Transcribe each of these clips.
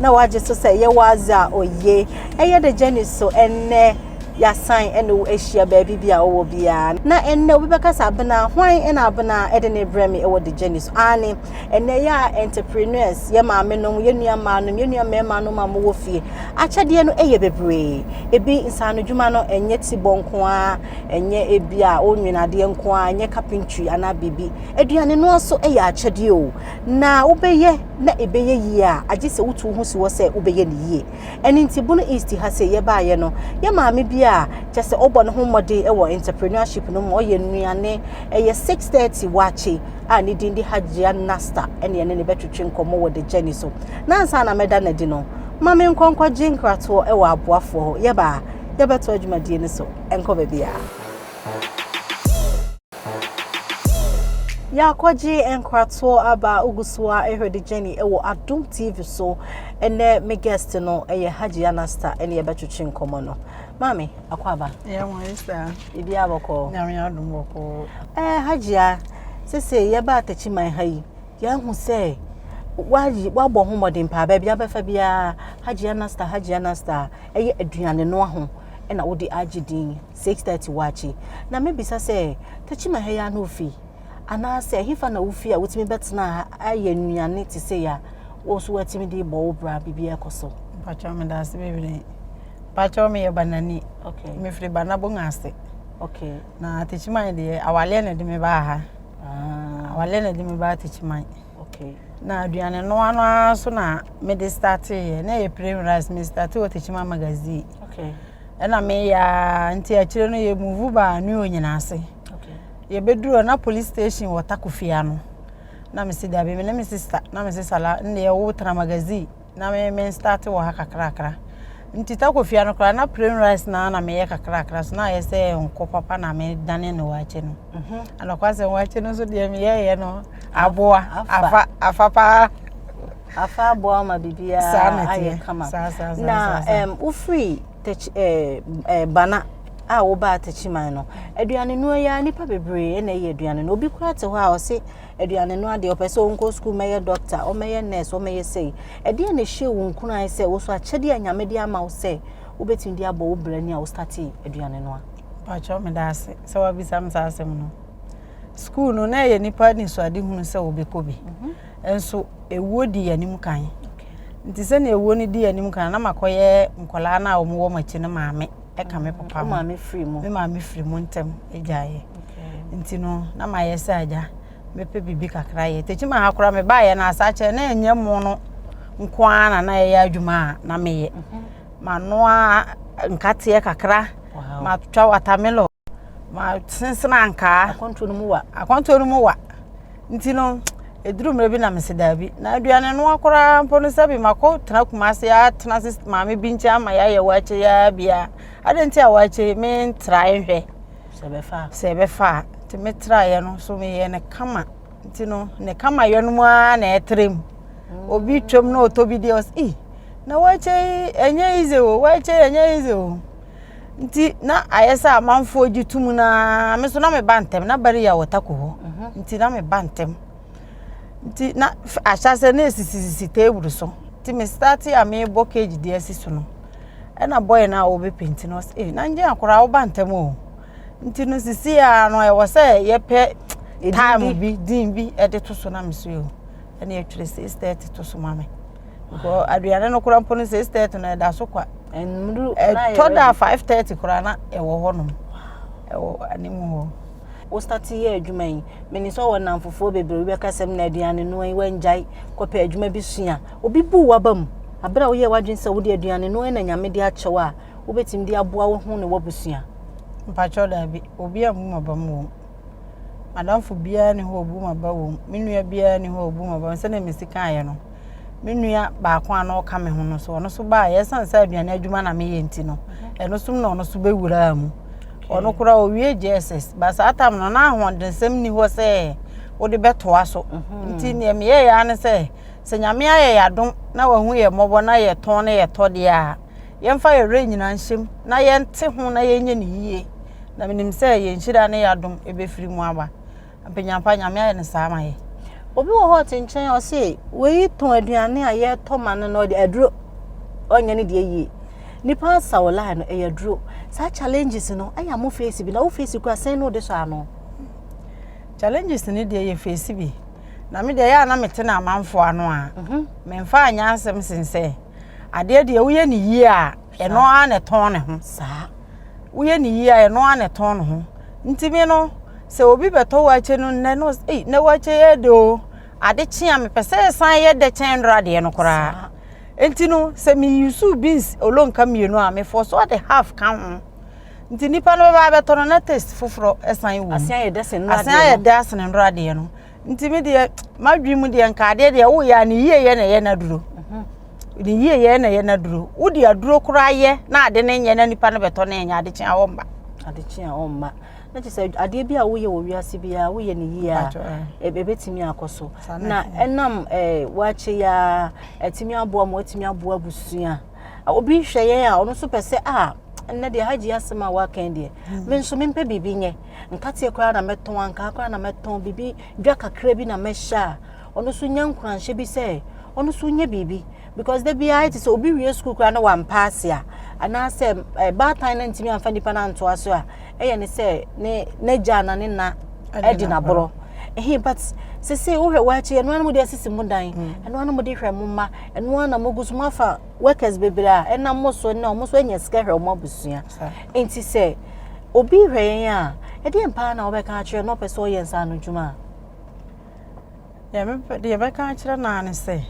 na wagye so sɛ yɛwɔ adze a oye. Ɛyɛ dɛ Jenny so ndɛ yɛasan na woehyia beebi bi a ɔwɔ biara. Na ndɛ obi bɛkasa abena, hwan na abena de no brɛ me wɔ de Jenny so? Aane, ndɛ yɛ a entrepreneurs, yɛ maame nom, yɛ nua mbaa nom, yɛ nua mmarima nom a mowɔ fie, akyɛdeɛ no yɛ bebree. Ebi nsaano dwuma no nyɛ tibɔ nko ara, nyɛ ebi a wonwene adeɛ nko ara, nyɛ carpentry anaa biribi. Aduane noa so yɛ akyɛdeɛ o. na wobɛyɛ na ɛbɛyɛ yie a agye sɛ wotu wo ho si hɔ sɛ wobɛyɛ no yie ɛno nti bono east ha sɛ yɛbaayɛ no yɛ maame bi a kyɛ sɛ ɔbɔ ne ho mmɔden wɔ entrepreneurship no mu ɔyɛ nnuane ɛyɛ 630 wakye a ne din de hajia nasta ɛne ɛne ne bɛtwetwe nkɔmmɔ wɔ the journey so na ansa na mɛda no adi no ma me nkɔnkɔgye nkratoɔ ɛwɔ aboafoɔ hɔ yɛbaa yɛbɛto adwumadie no so ɛnkɔ baabi a Yɛakɔgye nkratoɔ aba Ogusoa Ehwɛde Jenny wɔ Adom TV so. Ɛnɛ me guest no ɛyɛ Hajia Nasta ɛne yɛbɛtwetwe nkɔmmɔ no. Maame, akɔ aba. Yɛ mo ayɛ saa. Ebi abɔkɔ. Nyame adom bɔkɔ. Ɛɛ Hajia, sese yɛba atakyi man ha yi, yɛahu sɛ wayi wabɔ ho mmɔden paa baabi abɛfa biara Hajia Nasta, Hajia Nasta, ɛyɛ aduane noa ho ɛna wode agye din. six thirty waakye na mebisa sɛ Tachima ha yi ara na ofi anaasɛ ɛhefa na wofi a wotumi bɛtena ha ayɛ nnuane te sɛ ya wo nso woatumi de bɔ wo bra biribiara kɔ so. Mpakyɛw meda ase bebree. Mpakyɛw meyɛ banani. Okay. Mefiri banabong ase. Okay. Na Tachima deɛ awaleɛ na ɛde me baa ha. Ah. Awaleɛ na ɛde me baa Tachima. Okay na aduane noa no ara so na me de startee yɛ na yɛ plain rice me startee wɔ tekyima magazine okay ɛna me yɛ nti akyire no yɛ move ba ne onyina ase okay yɛ beduro na police station wɔ takofia no na me si dabi me ne me sister na me sister la ne yɛ wo tra magazine na me me start wɔ ha kakrakra nti takofia no koraa na plain rice na na meyɛ kakrakra so na ayɛ sɛ nko papa na medane ne waakye no mhm. anɔkwa sɛ waakye no nso deɛ meyɛyɛ no aboa afa afa paa afa aboa ma biribiara ayɛ kama na wofiri eh, eh, bana a wobaa takyiman no aduane no yɛ nipa bebree na ɛyɛ aduane no obi kora te hɔ a ɔse aduane no adeɛ, ɔpɛ sɛ ɔnkɔ sukuu mɛyɛ dɔkta, ɔmɛyɛ nurse, ɔmɛyɛ sei. Ɛdeɛ na ɛhyɛ wo nkuran sɛ wo so akyɛdeɛ a Nyame de ama wo sɛ wobɛtumi de abɔ wo bra ni a wo startee aduane no a? Pakyɛw meda ase sɛ wabisa me saa asɛm no. Sukuu no na ɛyɛ nipa nisuade hunu sɛ wɔbɛkɔ bi. Mhm. Nso ewuo di yɛn anim kan. Nti sɛnea ewuo no di yɛn anim kan na makɔyɛ nkɔlaa no a wɔwɔ m'akyi no maame. ɛka me papa ho me maame firi mu ntɛm gyaeɛ nti no na mayɛ sɛ agya mepɛ biribi kakra yɛ tɛkyima ha koraa mebaeɛ no asa kyerɛ na ɛnyɛ mo no nko ara na na ɛyɛ adwuma a na meyɛ manoa nkateɛ kakra matwa watermelon ma sensene ankaa akwantuo no mu wa akwantuo no mu wa nti no ɛduru mmerɛ bi na mese daabi na aduane noa koraa mpo no sɛbi makɔ tena kuma ase atena ase maame bi nkyɛn ama yɛayɛ waakye yɛa bia adɛn nti a waakye mentrae nhwɛ sɛ ɛbɛfa a nti metraeɛ no so meyɛ ne kama nti no ne kama yɛ no mu ara na ɛtrɛ mu mm. obi twam na ɔtɔ bi deɛ ɔs i na waakye ɛnyɛ ize o waakye ɛnyɛ ize o Nti na ayɛ sɛ amanfoɔ gye tum no ara. Me nso na meba ntɛm. Na Bariya wɔ tako hɔ. Mhm. Nti na meba ntɛm. Nti na ahyɛaseɛ na ɛsisisisi table so. Nti me start a mebɔ cage de asi so no. Ɛna boy no a wɔbɛpenti no ɔsɛ, eh, na ngye akora woba ntɛm o. Nti no sisi a no ɛwɔ sɛ yɛpɛ time bi, din bi ɛde to so na me so o. Ɛna ɛtwerɛ 6:30 to so ma me. Kɔ aduane no kora mpo no six thirty na ɛda so kwa. Nnuru ɛtɔ da five thirty kora na ɛwɔ hɔ nom. Ɛwɔ anim hɔ. Wo start yɛ adwuma yi. Mene sɛ wɔ namfofoɔ bebree bi bɛka sɛm na aduane no yi wɔngyae kɔpɛ adwuma bi sua. Obi bu waba mu. Abere a woyɛ wadwene sɛ wode aduane no na nyame de akyɛw a wobɛtumi de aboa wo ho ne wabusua. Mpakyɛw daabi. Obi ambu maba mu wɔ mu. M'adamfo biara nni hɔ a obu m'aba wom. Me nua biara nni hɔ a obu m'aba wom. Sɛnea Mercy kaeɛ no, me nua baako a na ɔka me ho no so, ɔno so baeɛ. Ɛsiane sɛ aduane adwuma na meyɛ nti no, ɛno so na ɔno so bɛwuraa mu. Ɔno koraa ɔwie JSS. Ba saa tam no, na ahoɔdensɛm nni hɔ sɛ wode bɛtoa so. Mhm. Nti neɛ meyɛeɛ ara ne sɛ, sɛ Nyame ayɛ yɛ adom na wahu yɛ mmɔbɔ na yɛtɔn na yɛtɔ deɛ a, yɛmfa yɛn werɛ nyinaa nhyɛm na yɛnte ho na yɛnyɛ no yie na menim sɛ yɛn nhyira ne yɛadom ɛbɛfiri mu aba mpanyampa nyame ayɛ no saa ma yɛ obi wɔ hɔ ɔte nkyɛn ɔse wei tɔn aduane a yɛtɔ ma no no ɔde aduro ɔnyɛ no deɛ yie nipa asa wɔ line no ɛyɛ aduro saa challenges no ɛyɛ mo face bi na wo face kura sɛn no de sɔ ano challenges no deɛ yɛ face bi na me deɛ yɛ a na mete no amanfoɔ ano a mhm. memfa anyɛ asɛm sen sɛ adeɛ deɛ woyɛ ne yie a ɛno ara na ɛtɔn ne ho saa woyɛ ne yie a ɛno ara na ɛtɔn ne ho ntumi no sɛ obi bɛtɔ wɔakyɛ no nnɛ no ei na wɔakyɛ yɛ de o ade kye a mepɛ sɛ ɛsan yɛ dɛ kyɛn nnora adeɛ no koraa nti no sɛ meyusu beans olonka mmienu a mefɔ so ade half ka ho nti nipa no bɛba abɛtɔ no na taste foforɔ ɛsan wɔ mu asan ayɛ dɛ asene nnora adeɛ no nti me deɛ m'adwene mu deɛ nka adeɛ deɛ woyɛ a ne yieyɛ na ɛyɛ no aduro mhm. ne yieyɛ na ɛyɛ no aduro wode aduro koraa yɛ na ade no nyɛ na nipa no bɛtɔ no ɛnyɛ adekye a wɔmma adekye a wɔmma na kyerɛ sɛ adeɛ bi a woyɛ wɔ wiase biara woyɛ ne yie a ɛbɛtumi akɔ so na ɛnam woakye yɛ a atumi aboa ma watumi aboa abusua obi hwɛ yɛn a ɔno nso pɛ sɛ a ɛnnɛ deɛ hagye asɛm a woakan deɛ hmm. me nso mempɛ biribi nyɛ Nkateɛ koraa na mɛtɔn, ankaa koraa na mɛtɔn, biribi dwa kakra bi na mɛhyɛ a, ɔno nso nya nkuranhyɛ bi sɛ ɔno nso nyɛ biribi. Because da biara ayɛ te sɛ obi wie sukuu koraa na wampa ase a, anaasɛ eh, baatan no ntumi amfa nipa no antoa so a, ɛyɛ ne sɛ ne n'agya na ne na ɛde naborɔ. Ehe but sese wohwɛ wɔakyi ɛno ara na mode asisi mo dan mm. ɛno ara na mode hwɛ mo mma ɛno ara na mogu so moafa workers bebree a ɛnam mo so na wɔn nso anya sika hwɛ wɔn abusua Nti sɛ obi hwɛ yɛn a, ɛdeɛn paa na wobɛka akyerɛ na ɔpɛ sɛ ɔyɛ nsa ano dwuma a? Deɛ bɛka akyerɛ no ara ne sɛ,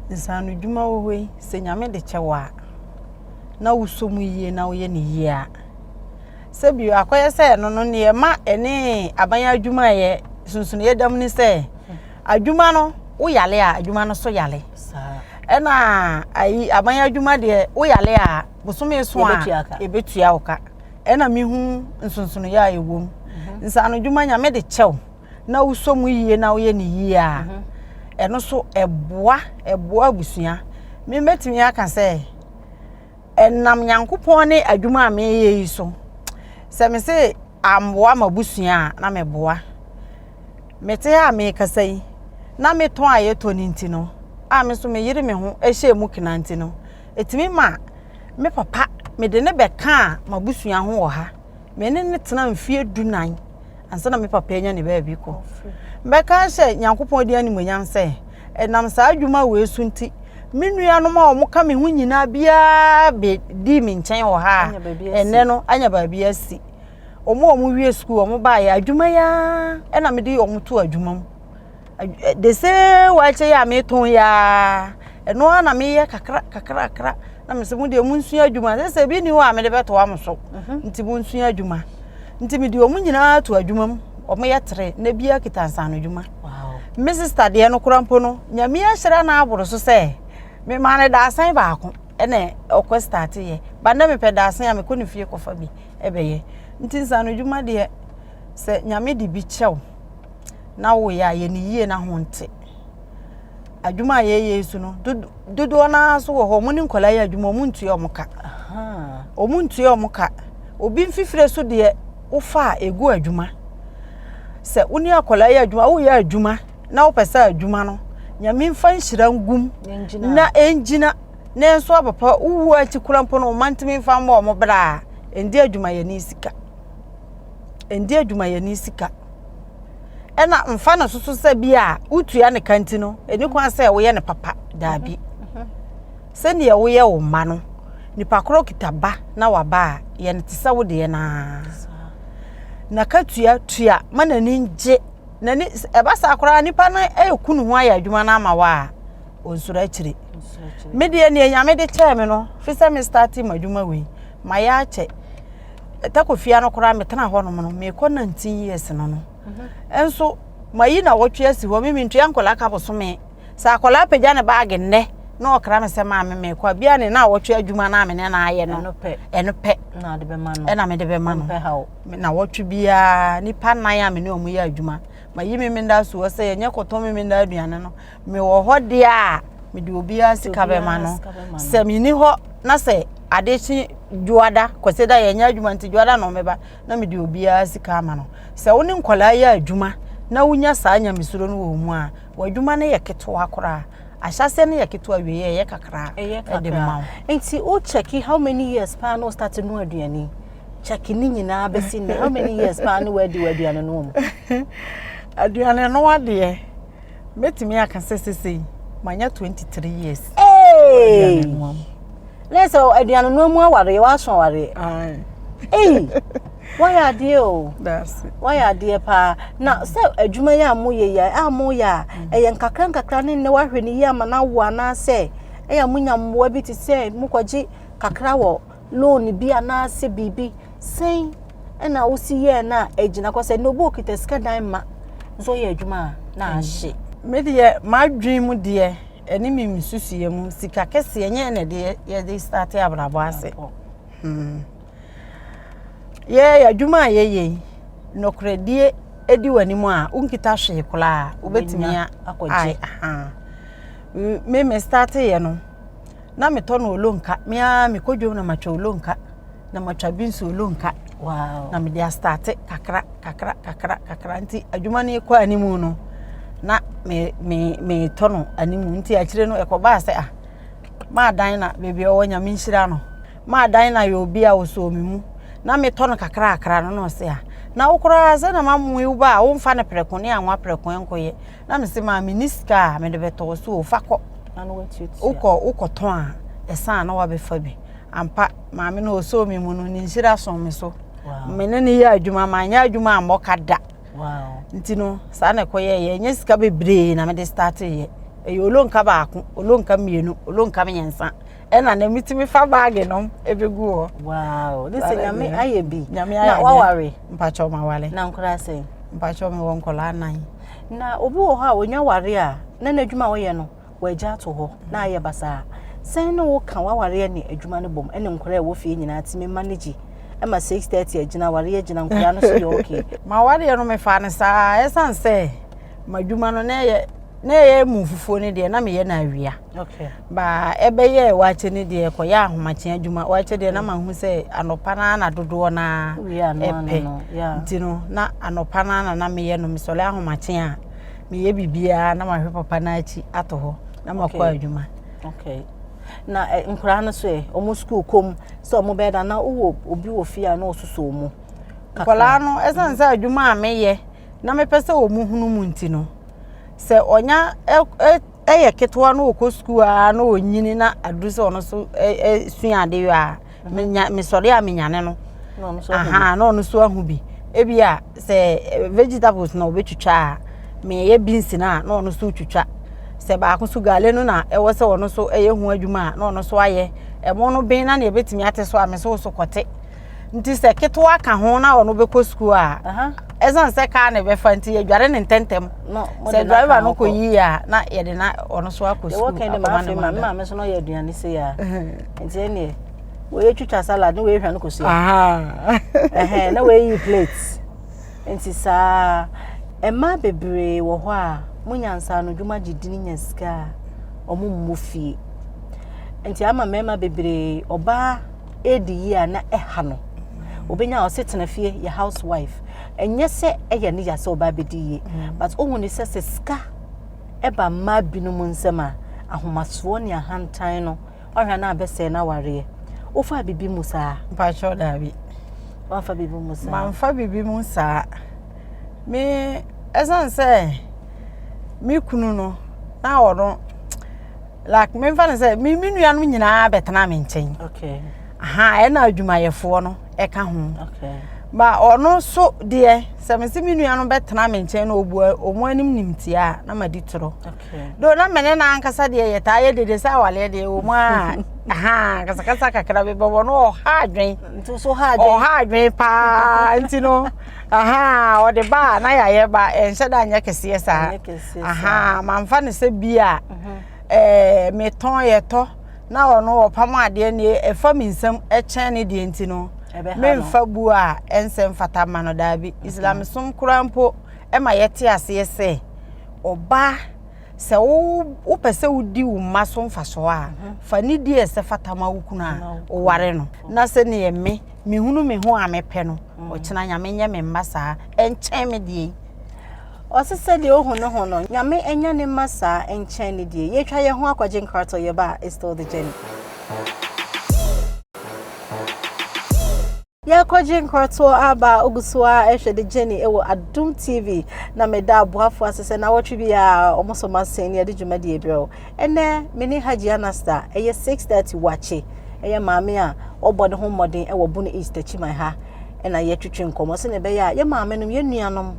nsa ano dwuma wɔ hɔ yi, sɛ Nyame de kyɛ wɔ a, na wosɔ mu yie na woyɛ no yie a. Sɛ bio akɔyɛ sɛ ɛno no, neɛ ɛma ɛne aban adwuma yɛ sunsuneɛ dam ne sɛ, Adwuma no wo yale a adwuma no so yale. Ɛna ayi aban adwuma deɛ wo yale a bosome so a ebetua wo ka. Ɛna mehu nsonsono yɛ a ɛwɔ mu. Mhm. Nsano adwuma nyame de kyɛw na wosɔ mu yie na woyɛ ne yie a mhm. ɛno so ɛboa ɛboa abusua. Mebɛtumi aka sɛ ɛnam Nyankopɔn ne adwuma a meyɛ yi so, sɛ me se amboa m'abusua a, na meboa. Mete ha a mekasa yi, na me tɔn a yɛtɔ no nti no, a me nso meyere me ho hyɛ mu kena nti no, ɛtumi ma me papa, mede no bɛkaa m'abusua ho wɔ ha. me ne no tena mfeɛ du nan ansa na me papa anya ne baabi kɔ mɛka sɛ nyankopɔn di animonyam sɛ ɛnam saa adwuma wei so nti me nuanom a wɔn ka me ho nyinaa biara bɛ di me nkyɛn wɔ ha a ɛnɛ no anya baabi asi wɔn a wɔn wie sukuu wɔn baayɛ adwuma yi ara ɛna mede wɔn to adwuma mu. de se waakye yɛ a metɔn yɛ ara ɛno ara na meyɛ kakra kakra kakra na mesɛ mo deɛ monsua adwuma sɛ sɛ ebi ni hɔ a mede bɛtoa mo so mhm. nti monsua adwuma nti mede wɔn nyinaa to adwuma mu wɔyɛ tere na bi akita nsano adwuma me sista deɛ no kora mpo no nyame ahyira no aboro so sɛ memaa no daasen baako ɛna ɔkɔ start yɛ ba ndɛ mepɛ daasen a mekɔ ne fie kɔfa bi ɛbɛyɛ nti nsano adwuma deɛ sɛ nyame de bi kyɛw na woyɛ a yɛ ne yie na ho nte adwuma a yɛyɛ yi so no dodoɔ no ara nso wɔ hɔ ɔmo ne nkwadaa yɛ adwuma ɔmo ntua ɔmo ka ɔmo ntua ɔmo ka obi mfifire so deɛ wofa a egu adwuma sɛ wo ne akwadaa yɛ adwuma woyɛ adwuma na wopɛ sɛ adwuma no nyame nfa nhyira ngum na ɛngyina na nso abapa wowu akyi kora mpo no ɔma ntumi nfa mmɔ ɔmo bra a ɛndi adwumayɛni sika ɛndi adwumayɛni sika ɛna mfa no soso sɛ bi a wotua ne ka nti no ɛni kwan sɛ woyɛ no papa daabi sɛdeɛ woyɛ wo mma no nipa korɔ kita ba na waba a yɛ no te sɛ wo deɛ naa na ka tua tua ma n'ani gye n'ani ɛba saa koraa nipa no ɛku ne ho ayɛ adwuma no ama wo a ɔnsoro akyire me deɛ neɛ nyame de kyɛɛ me no fi sɛ me starte mu adwuma wei mayɛ akyɛ takofia no koraa metena hɔ nom no mekɔ 19 years no no mhm. nso mayi na wɔtwe asi hɔ mimi ntua nkɔla ka bosome sɛ akɔla apagya ne baage nnɛ na ɔkra me sɛ maa me mekɔ a bia ne na wɔtwe adwuma no a mene na ayɛ no ɛno pɛ ɛna mede bɛma no na wɔtwe biara nipa nan a mene ɔmo yɛ adwuma mayi me menda soɔ sɛ ɛnyɛ kɔtɔ me menda aduane no mewɔ hɔ deɛ a mede obiara sika bɛma no sɛ menni hɔ na sɛ ade kye dwoada kɔsɛ da yɛnyɛ adwuma nti dwoada na ɔmɛba na mede obiara sika ama no sɛ wo ne nkwadaa yɛ adwuma na wonya saa nyamesuro no wɔ mu a w'adwuma no yɛ ketewa koraa ahyɛseɛ no yɛ ketewa wie yɛ ɛyɛ kakraa ɛde ma wo nti wo kyɛki how many years paa na ɔstate no aduane kyɛki ne nyinaa bɛsi ne how many years paa na wadi w'aduane no mu aduane no adeɛ mɛtumi aka sɛ sesei manya 23 years na sɛ aduane noa mu awareɛ woaso awareɛ ei woayɛ adeɛ o woayɛ adeɛ paa na sɛ adwuma yi a moyɛ yi a moyɛ a ɛyɛ nkakra nkakra ne nnɛ woahwɛ no yi ama no awo anaasɛ ɛyɛ monya mmoa bi te sɛ mokɔgye kakra wɔ loan bi anaasɛ biribi sɛn ɛna wosi yɛɛ no a ɛgyina kɔ sɛ nobo okita sika dan ma nso ɔyɛ adwuma a na mm. ahye me deɛ m'adwene mu deɛ ɛne me nsusuiɛ mu sika kɛseɛ nyɛ na ɛde yɛde starte abrabɔ ase hmm. yɛyɛ adwuma a yɛyɛ yi nɔkorɛdie ɛdi w'anim a wonkita hwee koraa wobɛtumi akɔgye me me starte yɛ no na metɔ no olonka me ara mekɔ dwom na matwa olonka na matwa bi nso olonka wow. na mede astate kakra kakra kakra kakra nti adwuma no kɔ anim no na me me me tɔ no anim nti akyire no ɛkɔbaa sɛ ah maadan na baabi a ɔwɔ nyame nhyira no maadan na yɛ obi a ɔsɔɔ me mu na metɔ no kakra kakra no na ɔsɛ a na wo koraa sɛ na mamoe wo ba a womfa no prɛko ne anwa prɛko nkɔyɛ na mese maa me ni sika a mede bɛtɔ wɔ so fa kɔ wokɔ wokɔtɔn a ɛsan na wabɛfa bi ampa maame no ɔsoo me mu no ne nhyira so me so me ne ne yɛ adwuma manyɛ adwuma a mmɔka da nti no saa na ɛkɔyɛyɛ ɛnyɛ sika bebree na mede starteyɛ ɛyɛ olonka baako olonka mmienu olonka mmiɛnsa ɛna na metumi fa baage nom ɛbɛgu hɔ wow ne sɛ nyame ayɛ bi nyame ayɛ na waware mpakyɛw ma wale na nkora sɛ mpakyɛw me wɔ nkɔla anan na obi wɔ hɔ a onwa ware a na n'adwuma a wɔyɛ no wɔagya ato hɔ na ayɛ basaa sɛn ne woka waware ne adwuma no bom ɛne nkora ɛwɔ fie nyinaa tumi ma no gye ɛma 6:30 agyina ware agyina nkora no so yɛ okay ma wareɛ no mefaa no saa ɛsan sɛ M'adwuma no na ɛyɛ na ɛyɛ mu fufuo no deɛ na meyɛ no awia. Okay. Ba ɛbɛyɛ waakye no deɛ kɔyɛ ahomakye adwuma. Waakye deɛ na mahu sɛ anɔpa no na dodoɔ no ara ɛpɛ. Nti no na anɔpa no na na meyɛ no mesɔre ahomakye a meyɛ biribiara na mahwɛ papa no akyi ato hɔ na makɔ adwuma. Okay. Na eh, nkoraa no so ɛ, ɔmo sukuu kɔm sɛ ɔmo bɛda na wowɔ obi wɔ fie a na ɔsoso ɔmo. Nkwadaa no, ɛsiane sɛ adwuma a meyɛ na mepɛ sɛ wɔn hunu mu nti no sɛ ɔnya yɛ ketewa na ɔkɔ sukuu a na ɔnyini na aduru sɛ ɔno so sua ade yɔ a mesɔre a menyane no aha na ɔno so ahu bi ebi a sɛ vegetables na ɔbɛtwitwa a meyɛ beans no a na ɔno so twitwa sɛ baako so gale no na ɛwɔ sɛ ɔno so ɛyɛ ho adwuma a na ɔno so ayɛ ɛmo no ben na nea ɛbɛtumi ate so a me so so kɔte nti sɛ ketewa ka ho na ɔno bɛkɔ sukuu a ɛsiane sɛ kaa na ɛbɛfa nti yɛdware ne ntɛntɛm sɛ driver no kɔ yie a na yɛde na ɔno so akɔ sukuu akɔma ne ma maame so na ɔyɛ aduane sɛ yɛ a nti ɛneɛ wɔyɛ twitwa salad ne wɔyɛ hwa no kɔ sua ɛhɛn na wɔyɛ yi plate nti saa mmaa bebree wɔ hɔ a mo nyansa no dwuma gye di ne nya sika a wɔn mmɔ fie nti ama mmarima bebree ɔbaa redi yie a na ɛha no obɛnya ɔse tena fie yɛ house wife ɛnyɛ sɛ ɛyɛ ne ya sɛ ɔba bɛdi yie mm. but wohu ne sɛ sɛ sika ɛba mmaa binom nsɛm a ahomasoɔ ne ahantan no ɔhwɛ no abɛsɛe no awareɛ wofa biribi mu saa mpakyɛw daabi wamfa biribi mu saa mamfa biribi mu saa me ɛsiane sɛ me kunu no na ɔno like memfa no sɛ me me nua no nyinaa bɛtena me nkyɛn okay aha ɛna adwumayɛfoɔ no ɛka ho okay ma ɔno so deɛ sɛ me se me nua no bɛtena me nkyɛn na obu ɔmo anim nim tia a na ma di toro okay do na mene na ankasa deɛ yɛ taa yɛ dede sɛ awaleɛ deɛ ɔmo a aha kasakasa kakra bi bɛbɔ no ɔha adwen nti so ha adwen ɔha adwen paa nti no ahaa ɔde ba a na yɛayɛ ba ɛnhyɛ da nyɛ kɛseɛ saa ahaa mamfa no sɛ bi a mhm. ɛɛ metɔn yɛtɔ na ɔno ɔpam adeɛ ne ɛfa mi nsam ɛkyɛn ne deɛ nti no memfa bu a ɛnsɛ mfata ma no daabi mhm. islamsom koraa mpo ɛma yɛte aseɛ sɛ ɔbaa Sɛ wopɛ sɛ wodi wo mma so mfaso a, fa nidi a ɛsɛ fata ma wo kunu a woware no, na sɛ ne yɛ me, mehunu me ho a mepɛ no, ɔkyena Nyame nyɛ me mma saa, ɛnkyɛn me deɛ yi. Ɔse sɛdeɛ ohu ne ho no, Nyame ɛnyɛ ne mma saa, ɛnkyɛn ne deɛ yi. Yɛtwa yɛn ho akɔgye nkratɔ, yɛba a, it's still the journey. Yɛrekɔgye nkoratoɔ aba a wogu so ara rehwɛ de gye ne wɔ Adom TV na meda aboafoɔ ase sɛ nawɔtwe biara wɔn so masen ne yɛde dwumadie brɛ wo. Ɛnnɛ me ne Hajji Anasta ɛyɛ 6:30 wakye ɛyɛ maame a ɔbɔ ne ho mmɔden wɔ Bono East Akyiman ha ɛna yɛtwetwe nkɔmmɔ sɛdeɛ ɛbɛyɛ a yɛn maame nom yɛn nuanom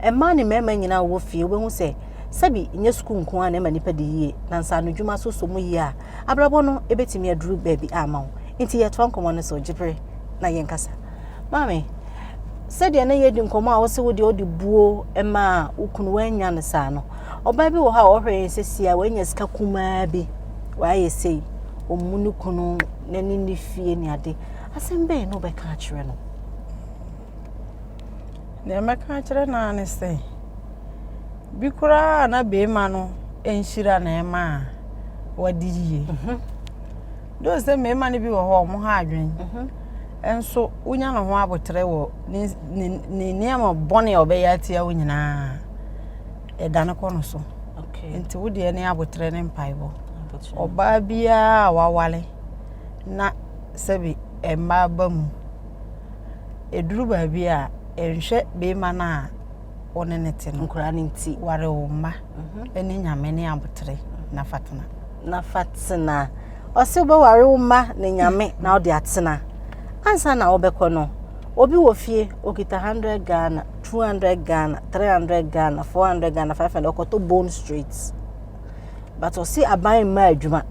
mmaa ne mmarima nyinaa wɔwɔ fie wobɛhu sɛ sɛbi nyɛ sukuu nko ara na ɛma nipa di yie na nsaano dwuma so sɔ mu yie a Abrabɔ no ebetumi aduru baabi a ama wo. Enti yɛtoa nkɔmmɔ no so, gye bere na yɛnkasa. Maame, sɛdeɛ na yɛredi nkɔmmɔ a wose wo deɛ wode buo maa wo kunu woannya no saa no, ɔbaa bi wɔ hɔ a ɔhwɛ yɛn sɛsi a wanya sika kumaa bi, wayɛ sei, ɔmmu ne kunu n'ani ne fie ne ade. Asɛm bɛn na wobɛka akyerɛ no? Deɛ mɛka akyerɛ no ara ne sɛ, bi koraa a na beema no nhyira na ɛma a wadi yie. Dɛ sɛ mmarima no bi wɔ hɔ a wɔn ha adwene, nso wonya ne ho aboterɛ wɔ ne ne ne nneɛma bɔne a ɔbɛyɛ atia wo nyinaa, ɛdane kɔ no so. Nti wo deɛ ne aboterɛ ne mpaebɔ. Ɔbaa biara a wawale na sɛbi mmaa ba mu Ɛduru baabi a, nhwɛ beema no a wo ne no te no. Nkura no nti. Ware wo mma mhm. ne nyame ne abotere na fatena. Na fatena. Ɔse wobɛware wo mma ne nyame na wode atena. Ansa na wobɛkɔ no, obi wɔ fie okita 100 Ghana, 200 Ghana, 300 Ghana, 400 Ghana, 500 ɔkɔtɔ bone straight. But ɔse aban mma adwuma.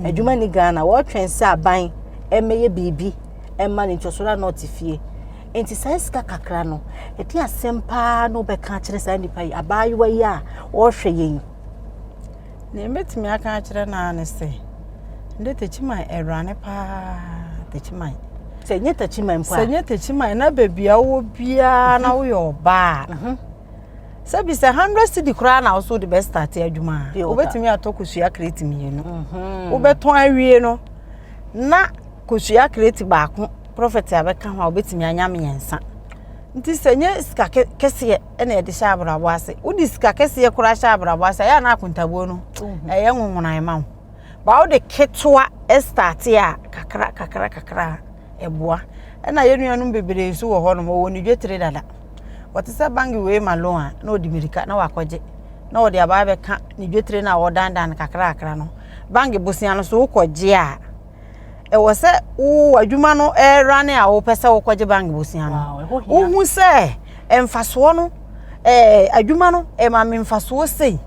Mhm. Adwuma ni Ghana, wɔtwɛn sɛ aban ɛmɛyɛ biribi. ɛma ne ntwɛsoɔ a na ɔte fie nti saa sika kakra no ɛde asɛm paa na ɔbɛka akyerɛ saa nipa yi abaayewa yi a ɔrehwɛ yɛn yi. na ɛbɛtumi aka akyerɛ no ara ne sɛ ndɛ takyiman awurane paa takyiman sɛ nyɛ takyiman mpo a sɛ nyɛ takyiman na baabi a wowɔ biara na woyɛ ɔbaa mhm. sɛ bi sɛ hundred cedi koraa na woso de bɛstate adwuma a wobɛtumi atɔ kosua kreti mmienu mhm. wobɛtɔn awie no na kosua kreti baako prɔfɛt a bɛka ho a wobɛtumi anya mmiɛnsa nti sɛ nyɛ sika kɛseɛ ɛna yɛde hyɛ abrabɔ ase wode sika kɛseɛ koraa hyɛ abrabɔ ase ɛyɛ ana akontabuo no mhm. ɛyɛ nwonwona ɛma wo ba wode ketewa ɛstate a kakra kakra kakra ɛboa ɛna yɛ nuanom bebree nso wɔ hɔ nom ɔwɔ ne dwetire dada wɔte sɛ bangi wei ma loan a na ɔde mirika na wakɔgye na ɔde abaa bɛka ne dwetire no a ɔdandan no kakrakra no bangi bosia no so wokɔgye a ɛwɔ sɛ wo adwuma no ɛra ne a wopɛ sɛ wokɔgye bank bosea no wohu sɛ mfasoɔ no ɛɛ adwuma no ɛma me mfasoɔ sei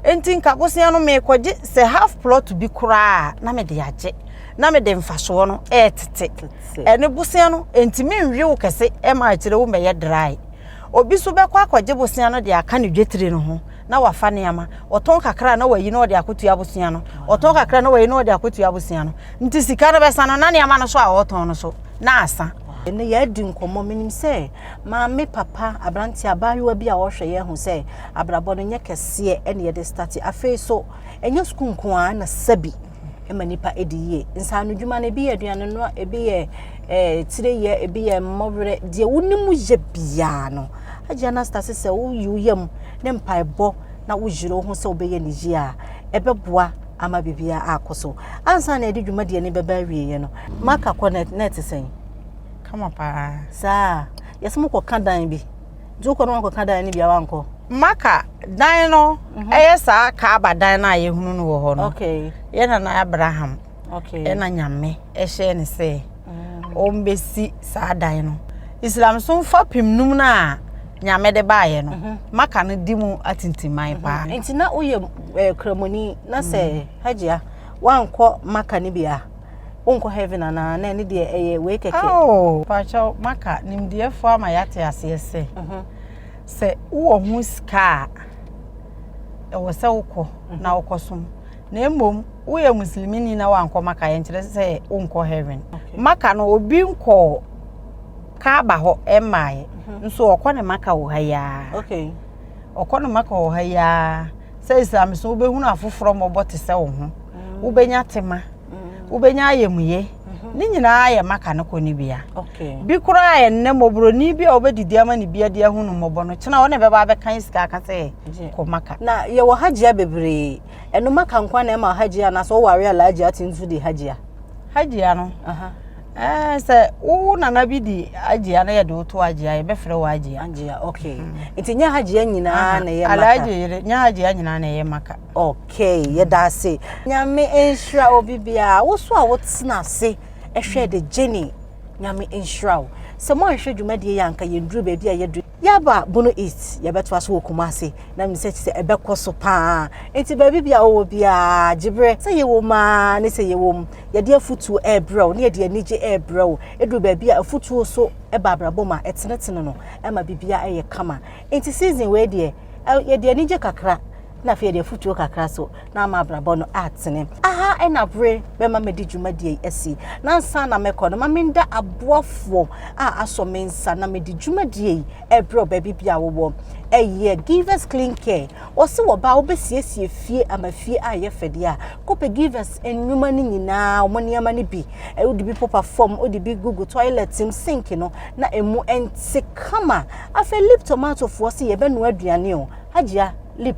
nti nka bosea no mekɔgye sɛ half plot bi koraa na mede agye na mede mfasoɔ no ɛɛtete ɛne bosea no nti menwe wo kɛse ɛma akyerɛ wo mɛyɛ dry obi so bɛkɔ akɔgye bosea no de aka ne dwetire no ho na wafa nneɛma ɔtɔn kakra na wayi na ɔde akotua abosea no ɔtɔn kakra na wayi na ɔde akotua abosea no nti sika no bɛsa no na nneɛma no so a ɔtɔn no so na asa ɛnɛ yɛadi nkɔmmɔ menim sɛ maame papa aberante abaayewa bi a ɔhwɛ yɛn ho sɛ abrabɔ no nyɛ kɛseɛ ɛne yɛde starte afei so ɛnyɛ sukuu nko a na sabi ma nipa di yie. Nsaano dwuma no, ebi yɛ aduane noa, ebi yɛ ɛɛ eh, tire yɛ, ebi yɛ mmɔwerɛ. Deɛ wonim yɛ biara no, agye anastase sɛ woyi wo yam ne mpaebɔ na woyere wo ho sɛ wobɛyɛ ne yie a, ɛbɛboa ama biribiara akɔ so. Ansa na ɛde dwumadie no bɛba awieeɛ no, maka kɔ na ɛte sɛn? Kama paa. Saa, yɛsɛ mokɔka dan bi. nti wokɔ no wankɔka dan no bia wankɔ maka dan no mhm. ɛyɛ saa kaaba dan no a yɛhunu no wɔ hɔ no yɛ nana abraham ɛna nyame ɛhyɛ ne sɛ mm. ɔmbɛsi saa dan no islam so mfa pem num no a nyame de baeɛ no mhm. maka no di mu atintiman mhm. paa nti na woyɛ eh, kramoni na sɛ mm. hagya wankɔ maka no bia wonkɔ heaven anaa na ɛne deɛ ɛyɛ wei kɛkɛ oh. pakyɛw maka nimdeɛfoɔ ama yɛate aseɛ sɛ mhm. sɛ wowɔ ho sika a ɛwɔ sɛ wokɔ mhm. na wokɔ som na mmom woyɛ muslimini na wankɔ maka yɛnkyerɛ sɛ wonkɔ heaven maka no obi nkɔɔ kaaba hɔ ɛmmaeɛ mhm. nso ɔkɔ ne maka wɔ ha yi ara ɔkɔ no maka wɔ ha yi ara sɛ islam so wobɛhunu afoforɔ mmɔbɔ te sɛ wo ho mm. wobɛnya tema mm. wobɛnya ayɛmuye mm-hmm. ne nyinaa yɛ maka no kɔ ne bia bi koraa yɛ nnɛ mmɔborɔni bi a wobɛdidi ama ne bia de ahunu mmɔbɔ no kyena wo ne bɛba abɛka sika aka sɛ kɔ maka na yɛwɔ hagyia bebree ɛno maka nkwa na ɛma hagyia anaasɛ woware alaagyia te nso de hagyia hagyia no Ɛɛ sɛ wo nana bi di agyia na yɛde woto agyia yɛbɛfrɛ wɔ agyia. Agyia okay. Mm. Nti nyɛ agyia nyinaa na ɛyɛ maka. Alagye yere nyɛ agyia nyinaa na ɛyɛ maka. Okay mm. yɛda ase. Nyame nhyira obi biara wo so a wotena ase ɛhwɛ de gyeni nyame nhyira wo sɛ mo anhwɛ dwumadie yɛ anka yɛnduru baabi a yɛduru. Yaba Bono East, yɛbɛtoa so wɔ Kumasi na menim sɛ kyesɛ ɛbɛkɔ so paa. Enti baabi bia wowɔ biaa, gye berɛ sɛ yɛwɔ mu aa ne sɛ yɛwɔ mu. Yɛde afutuo ɛrebrɛ wo ne yɛde anigye ɛrebrɛ wo. Ɛduru baabi a afutuo so ba abrabɔ mu a, ɛtenetene no, ɛma biribiaa ɛyɛ kama. Enti season wei deɛ, yɛde anigye kakra, na afei yɛde afutuo kakra so na ama abrabɔ no atene. Aha na bere bɛma mɛdi dwumadie yi asi. Nansa na mɛkɔ no, ma menda aboafoɔ a asɔ me nsa na mɛdi dwumadie yi ɛberɛ baabi bi a wowɔ. Ɛyɛ Givers Clean Care. Wɔse wɔba a wobɛsiesie fie ama fie a yɛ fɛdeɛ a, kɔpɛ Givers nnwuma no nyinaa, wɔn nneɛma no bi. Wode bi popa fam, wode bi gugu toilet mu, sink no, na ɛmu ɛnte kama. Afei Lip Tomatofoɔ se yɛbɛnoa aduane o. Hajia lip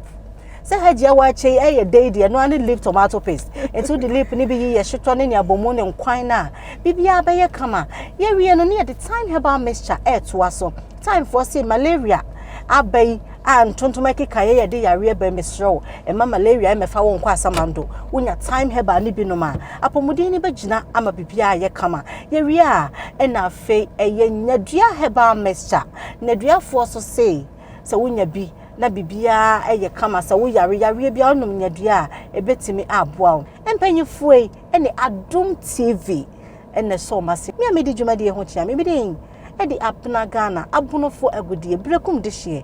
sɛ hajia wɔakyɛ yi ɛyɛ dɛ yi deɛ ɛno ne lip tomato paste nti wode lip no bi yi yɛ hyetɔ ne nea bɔ mu ne nkwan no a biribiara bɛyɛ kama yɛwie no ne yɛde time herbal mixture ɛɛtoa so time foɔ se malaria aba yi a ntontom ɛkeka yɛ yɛde yareɛ bɛn mesrɛ wo ɛma malaria ɛmɛfa wo nkɔ asamando wonya time herbal ne binom a apɔmuden no bɛgyina ama biribiara yɛ kama yɛwie a ɛna afei ɛyɛ nyadua herbal mixture nyaduafoɔ so se sɛ wonya bi na biribiara yɛ kama sɛ woyare yareɛ biara wonom nyadeɛ a ɛbɛtumi aboa wo mpanyinfoɔ yi ne adom tv ɛna ɛsɔ ɔma se me a medi dwumadie ho kyea me bidin ɛde apena ghana abonofoɔ agodie berekum de hyeɛ